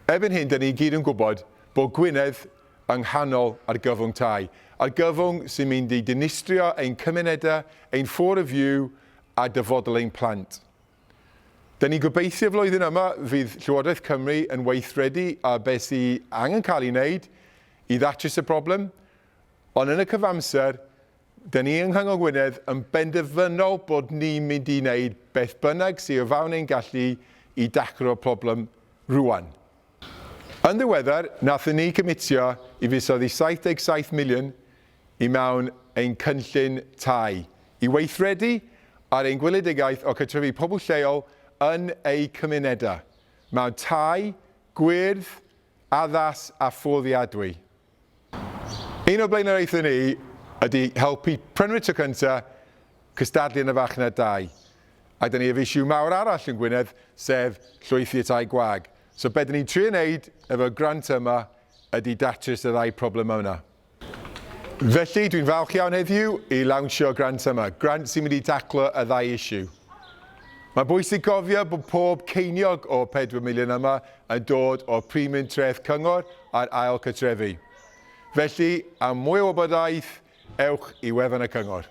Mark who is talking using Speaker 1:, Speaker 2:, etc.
Speaker 1: Erbyn hyn, 'da ni i gyd yn gwybod bod Gwynedd yng nghanol argyfwng tai. Argyfwng sy'n mynd i dinistrio ein cymunedau, ein ffôr y fyw a dyfodol ein plant. Da ni'n gobeithio flwyddyn yma fydd Llywodraeth Cymru yn weithredu ar beth sy angen cael ei wneud i ddatrys y broblem, ond yn y cyfamser, Dyn ni yng Nghyngor Gwynedd yn benderfynol bod ni'n mynd i wneud beth bynnag sy o fawn ein gallu i daclo'r problem rŵan. Yn ddiweddar, nathon ni cymitio i fuddsoddi 77 miliwn i mewn ein cynllun tai, i weithredu ar ein gweledigaeth o cartrefu pobl lleol yn eu cymunedau, mewn tai, gwyrdd, addas a fforddiadwy. Un o'r blaenoriaethau ni ydy helpu prynwyr tro cynta cystadlu yn y farchnad dai. A da ni ef issue mawr arall yn Gwynedd, sef llwythi y tai gwag. So be da ni'n trio wneud efo'r grant yma ydy datrys y ddau problemau yna. Felly, dwi'n falch iawn heddiw i lawnsio y grant yma, grant sy'n mynd i daclo y ddau issue. Mae'n bwysig cofio bod pob ceiniog o'r pedwar miliwn yma yn dod o'r Primiym Treth Cyngor ar Ail Cartrefi. Felly, am mwy o wybodaeth, ewch i wefan y Cyngor.